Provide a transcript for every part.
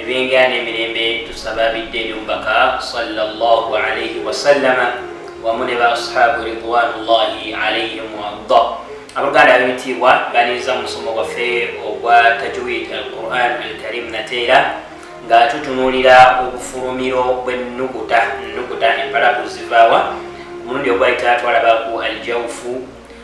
ebyengera n'emirembe tusaba bidde eri omubaka salllahu alaihi wasallama wamu ne ba ashabu ridwanullahi alaihim waarda abaganda ab'ebitiibwa baniiza mu musomo gwaffe ogwa tajwid al quran al karim nateera nga tutunuulira obufulumiro bw'ennukuta nnukuta empalabu zivaawa omulundi ogwali tatwalabaku aljawufu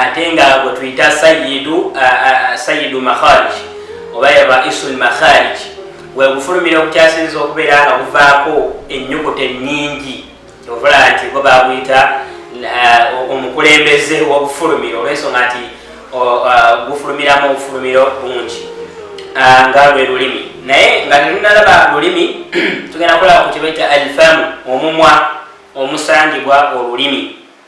ate nga gwe tuyita sayidu sayidu makharij oba yaba isul makharij wegufulumira okukyasinza okubeera nga buvaako ennyukuta ennyingi ovula nti bo baguyita omukulembeze wobufulumiro olwensonga nti gufulumiramu obufulumiro bungi nga lwe lulimi naye nga tetunalaba lulimi tugenda kulaba ku kibaita alfamu omumwa omusangibwa olulimi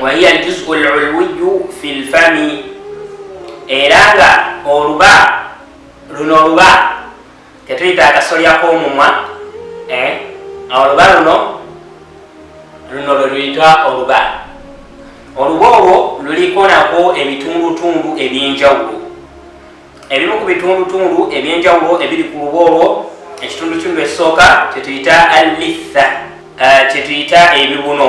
wahiya aljuzu lulwiyu fi lfami era nga oluba luno oluba ketuyita akasolya k'omumwa eh, oluba luno luno lweluyitwa oluba oluba olwo luliko nako ebitundutundu ebyenjawulo ebimu ku bitundutundu ebyenjawulo ebiri ku luba olwo ekitundutundu ekisooka kyetuyita allitha eh, kyetuyita ebibuno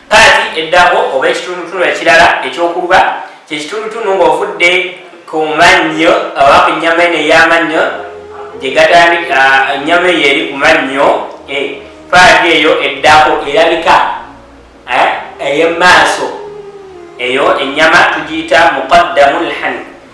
Paati eddako oba ekitundutundu ekirala eky'okuba kye kitundutundu ng'ovudde ku mannyo oba ku nnyama eno ey'amannyo gye gatandika ennyama eyo eri ku mannyo eh, paati eyo eddako erabika eh, ey'emaaso eyo ennyama tugiyita muqaddamu lhani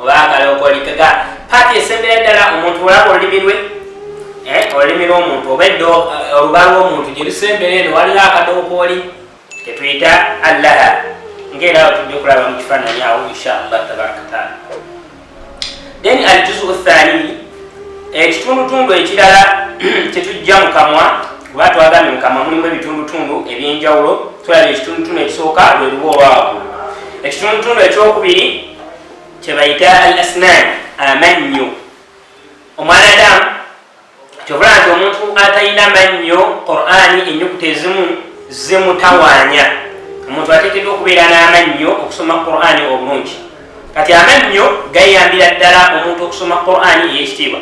oba akalokolikaga paati esembera ddala omuntu olaba olulimi lwe eh, olulimi lwomuntu oba eddo eh, oluba lwomuntu gyerusembera eno waliwo akadokooli ketuyita allaha ngaera awo tujja okulaba mu kifaananyi awo inshallah tabaraka taala then aljuzu thani ekitundutundu ekirala tetujja mu kamwa kuba twagambye mu kamwa mulimu ebitundutundu ebyenjawulo tulaba ekitundutundu ekisooka lwe luba olwawagulu ekitundutundu ekyokubiri kyebayita al asnan amannyo omwana adamu kyovula nti omuntu atalina mannyo qurani enyukuta ezimu zimutawanya omuntu atekedwa okubeera n'amannyo okusoma qurani obulungi kati amannyo gayambira ddala omuntu okusoma qurani eyekitiibwa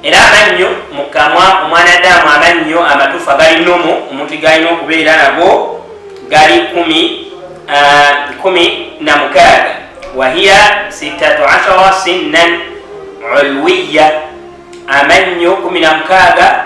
era amannyo mu kamwa omwanadamu amannyo amatuufu agali nomu omuntu galina okubeera nago gali kumi kumi na mukaaga wahiya sitatu ashara sinnan ulwiya amannyo kumi na mukaaga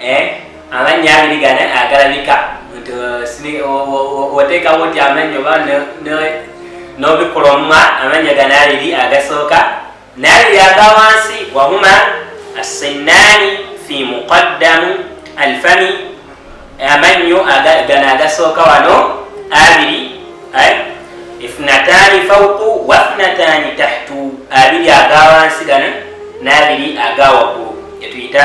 eh amannyo abiri gana agalabika nti oteekawo nti amannyo ba n'obikula omumwa amannyo gana abiri agasooka n'abiri aga wansi wahuma assinnaani fi muqaddamu alfami amannyo gana agasooka wano abiri ifnataani fauku wafnataani tahtu abiri aga wansi gana n'abiri aga waggulu etuyita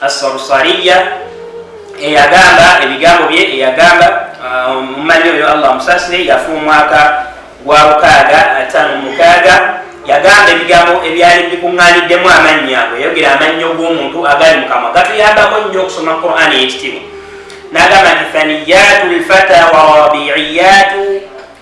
Assansariya eyagamba ebigambo bye eyagamba uh, omumanyi oyo Allah musasire yafa omwaka gwa lukaaga ataano mukaaga yagamba ebigambo ebyali bikuŋŋaaniddemu amannya ago yayogera amannya og'omuntu agali mukamwa gatuyambako nnyo okusoma qur'ani eyekitiibwa n'agamba nti faniyatu lfata warabiiyatu